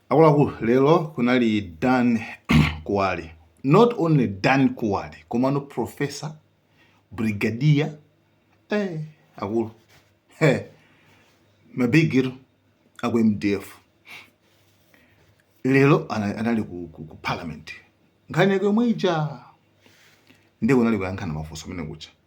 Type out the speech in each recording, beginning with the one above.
akuluakulu lero kunali dan kuwali not only dan kuwali komano professor brigadier eh, akulu hey, mabigiro aku mdf lero ana- anali ku, ku, ku parliament nkhani yake yomwe ija ndiye kunali kuyankhana mafunso umene kuja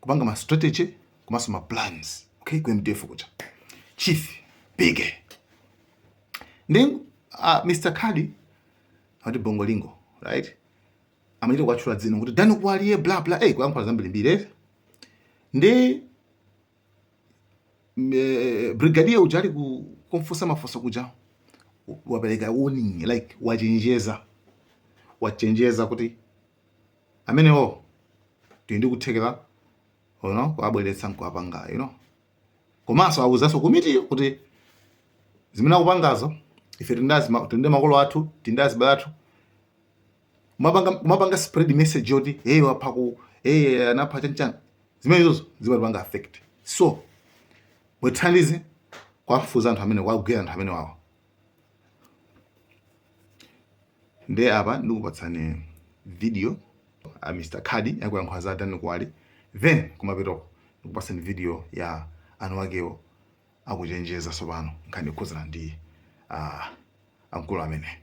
kupanga ma strategy komanso ma plans okay ku mdf kuja chief bige ndi uh, mr kadi uti bongolingo right amachita kuwatchula dzina kuti dani kuwali ee bla bla eh kuyankhula zambirimbiri eh? ndi eh, brigadier uja ali kumfunsa mafunso kuja wapereka warning like wachenjeza wachenjeza kuti amenewo tili ndi kuthekera you know, kuwabweretsa nkuwapanga you know. komanso awuzanso komitiyo kuti zimene akupangazo ife tili ndi makolo athu tili ndi azibale athu kumapanga spread message yoti hey wapha ku hey anapha chanchana zimene izozo zimatipanga affect so mutithandize kuwafufuza anthu amene kuwagwira anthu amenewawo nde apa ndikupatsani video ya Mr Khadi akuyankhula za Dan Kwali then kumapetoko ndikupatsani video ya anawakewo akuchenjeza tsopano nkhani ikhuzana ndi uh, mkulu amene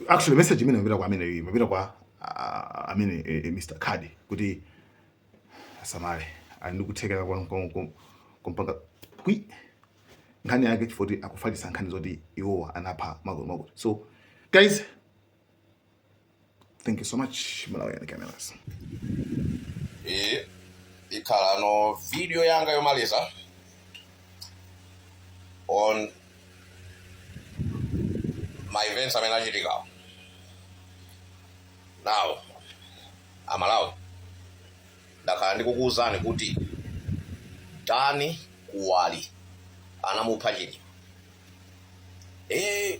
actually message imene imapita kwa amene imapita kwa uh, amene uh, eh, eh, Mr. Kadi kuti asamale ali ndi kuthekera kumpanga kwi nkhani yake chifukwa choti akufalitsa nkhani zoti iwowa anapha makuti makuti so guys thank you so much malawian cameras iyi ikhalano video yanga yomaliza on ma events amene achitikawo now amalawi ndakhala ndikukuwuzani kuti dani kuwali anamupha chilima ee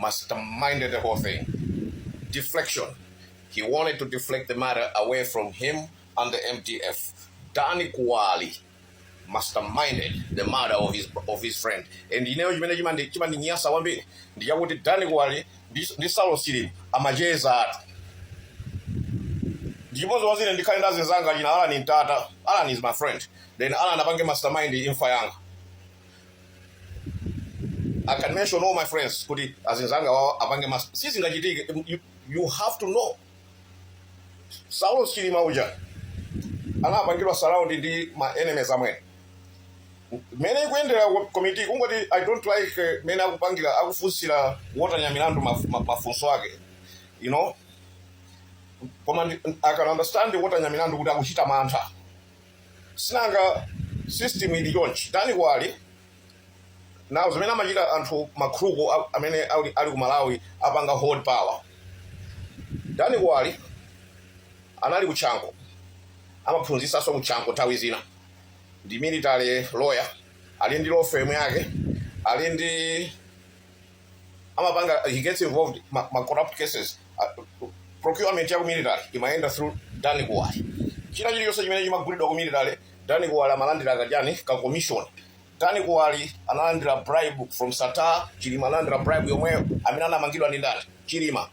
masterminded the whole thing. Deflection. He wanted to deflect the matter away from him and the MDF. Danny Kuwali masterminded the murder of his, of his friend. And you know, chimene chima, chimandinyasa kwambiri. Ndi chakuti Danny Kuwali, ndi ndi Saulos Chilima, amachezatu. Ndi chipongwe zedi ine ndikhale ndi anzanga dzina Alan Ntata. Alan is my friend. Then Alan apange mastermind imfa yanga. I can mention all my friends kuti azinzanga wao apange mas sizingachitike you, you have to know Saulos Chilima uja anapangidwa surround ndi ma enemies amwene mene ikuyendera komiti kungoti i don't like eh, mene akupangira akufunsira Walter Nyamilandu maf- ma- mafunso ake you know koma ndi- i can understand Walter Nyamilandu kuti akuchita mantha sinanga system ili chonchi dan kuwali now zimene amachita anthu ma crook a- amene ali, ali ku malawi apanga hold power dan kuwali anali ku chanco amaphunzisanso ku chanco nthawi zina ndi military lawyer ali ndi law firm yake ali ndi amapanga he gets involved ma, ma corrupt cases uh, procurement ya ku military imayenda through dan kuwali china chilichonse chimene chimagulidwa ku military dan kuwali amalandira kachani ka commission dan kuwali analandira bribe from sattar chilima analandira bribe yomweyo amene anamangidwa ndi ndani chilima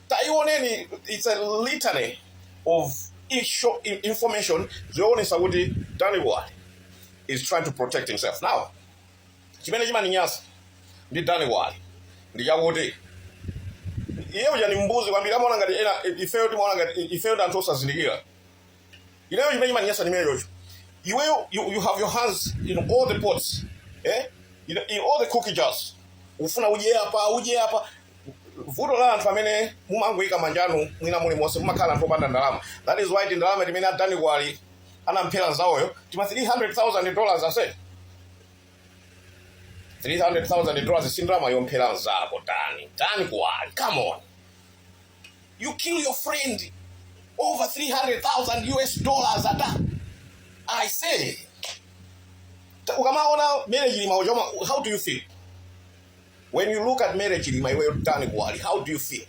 taioneni it's a litany of isho- i- information zoonesa kuti dan kuwali is trying to protect himself now chimene chimandinyasa ndi dan kuwali ndi chakuti iye uja ni mbuzi kwambiri amaona ngati ena ifeyo timaona ngati ifeyo ndi anthu osazindikira ineyo chimene chimandinyasa ndi chimenechocho iweyo you, you have your hands in all the pots eh? in, in all the cookie jars ufuna udye apa udye apa vuto la anthu amene mumangoyika manja anu mwina mulimonse mumakhala anthu opanda ndalama that is why tindalama timene a dan kuwali anamphera nzawoyo tima 300,000 dollars ase 300,000 dollars sindalama yomphera nzako tani tani kuwali come on you kill your friend over 300,000 US dollars ata I say Ta- ukamaona Mary Chilima uchoma how do you feel when you look at Mary Chilima iweyo tani kuwali how do you feel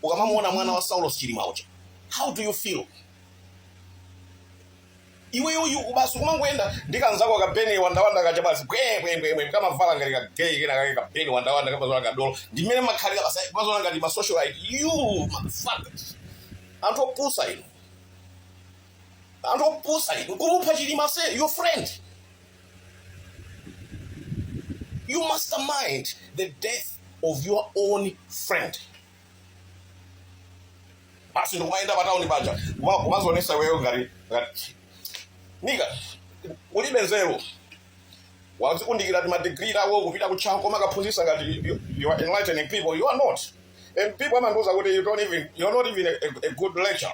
ukamamuona mwana wa Saulos Chilima uja how do you feel iweyo basi kumangoyenda ndi kanzako ka ben wandawanda kaja basi bwebwebwebwe kamavala ngati ka gay kena kake ka ben wandawanda kamaziona kadolo ndimene mumakhalira basi kumaziona ngati ma socialite you motherfuckers anthu opusa inu anthu opusa inu kumupha chilima se your friend you mastermind the death of your own friend basi ndikumayenda patauni paja kuma- kumazionesa iweyo ngati ngati nigga ulibe nzeru wazikundikira timadigiri tawo kupita ku chanco kumakaphunzisa ngati you- you are enlightening people you are not and people amandiuza kuti you don't even you are not even a, a, a good lecturer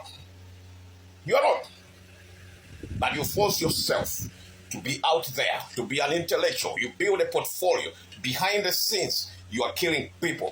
you are not but you force yourself to be out there to be an intellectual you build a portfolio behind the scenes you are killing people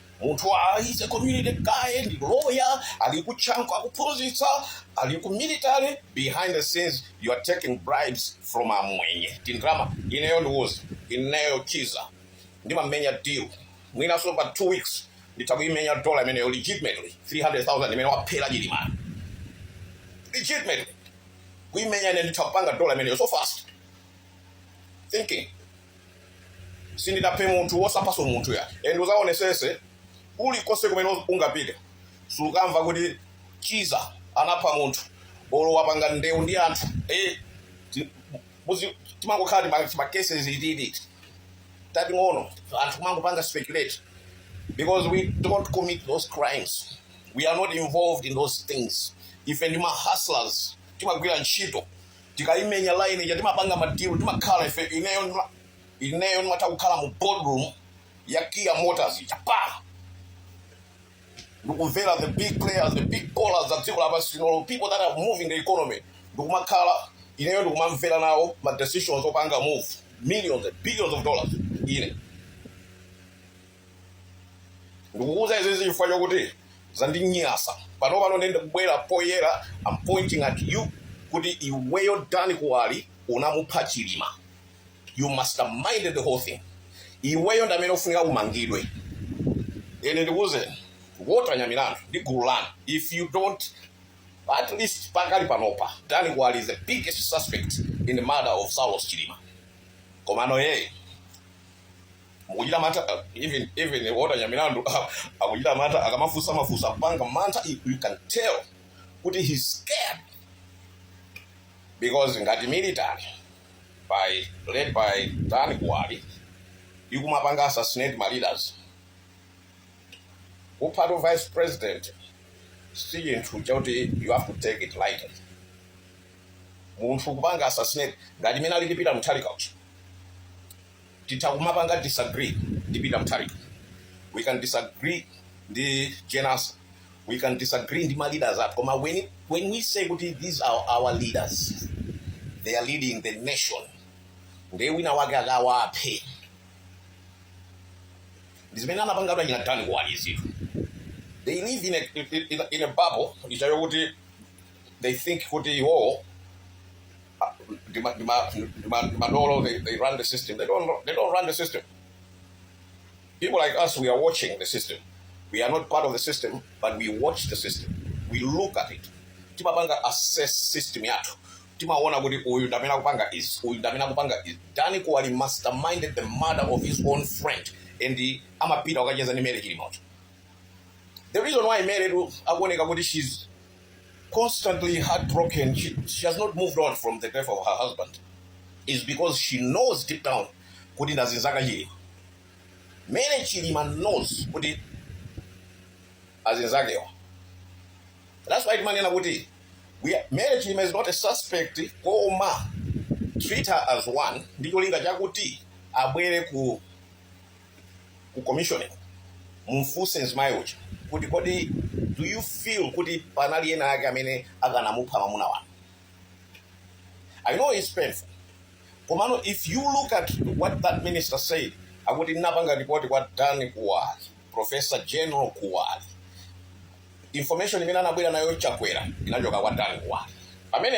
Munthu is a community guy ndi lawyer ali ku chanco akukaphunzitsa ali ku military behind the scenes you are taking bribes from amwenye tindrama ineyo ndiuze ineyo chiza ndimamenya deal mwinaso pa 2 weeks nditha kuimenya dollar imeneyo legitimately 300000 imene waphera chilima legitimately kuimenya ine nditha kupanga dollar imeneyo so fast thinking sindidaphe munthu wosaphaso munthu ya and uzaonesese ulikose kumene ungapite sukamva kuti chiza anapha munthu olo wapanga ndewu ndi anthu eh, ti- muzi- timangokhala ndi ma- macases ititi tating'ono anthu kumangopanga speculate because we don't commit those crimes we are not involved in those things ife ndi mahustlers timagwira ntchito tikaimenya line ija timapanga madilu timakhala ife ineyo ndima- ineyo ndimatha kukhala mu boardroom ya kia motors japan ndikumvera the big players the big ballers za dziko lapansi lino people that are moving the economy ndikumakhala ineyo ndikumamvera nawo ma decisions opanga move millions and billions of dollars ine ndikukuuza izizi chifukwa chokuti zandinyasa pano pano nde ndabwera poyera am pointing at you kuti iweyo dani kuwali unamupha chilima you masterminded the whole thing iweyo ndamene ufunika umangidwe and ndikuuze wotenga milandu ndi gulu lanu if you don't at least pakali panopa dani kuwali is the biggest suspect in the murder of saulos chilima komano yeye mukuchita mantha uh, even even wotenga milandu uh, akuchita mantha akamafusa mafuso akupanga mantha you you can tell kuti he's scared because ngati military led by dan kuwali ikumapanga assassinate ma leaders kupha vice president si chinthu chakuti you have to take it lightly munthu kupanga assassinate ngati mmene alili peter mutharika uchi titha kumapanga disagree ndi peter mutharika we can disagree ndi jenasa we can disagree ndi ma leaders athu koma when, when we say kuti these are our leaders they are leading the nation ndiye wina wake akawaphe ndi zimene anapanga achina dani kuwali zinthu they live in a, in a, in a bubble ichayo kuti they think kuti iwowo ah, ndi ma- ndi ma- ndi ma- ndi madolo they, they run the system they don't, they don't run the system people like us we are watching the system we are not part of the system but we watch the system we look at it timapanga assess system yathu timaona kuti uyu ndamene akupanga is uyu ndamene akupanga is dani kuwali masterminded the murder of his own friend and amapita akacheza ndi mary chilima the reason why mary akuoneka kuti she's constantly heartbroken. She, she has not moved on from the death of her husband. Is because she knows deep down kuti ndazinzaka chilima. Mary Chilima knows kuti azinzakewa. That's why timanena kuti we are- Mary Chilima is not a suspect koma treat her as one ndi cholinga chakuti abwere ku ku commission mumfunse mzimayi uja kuti kodi do you feel kuti panali ena ake amene akanamupha mamuna wanu i know it's painful komano if you look at what that minister said akuti ndinapanga report kwa dan kuwali professor general kuwali information imene anabwera nayo chakwera inachoka kwa dan kuwali pamene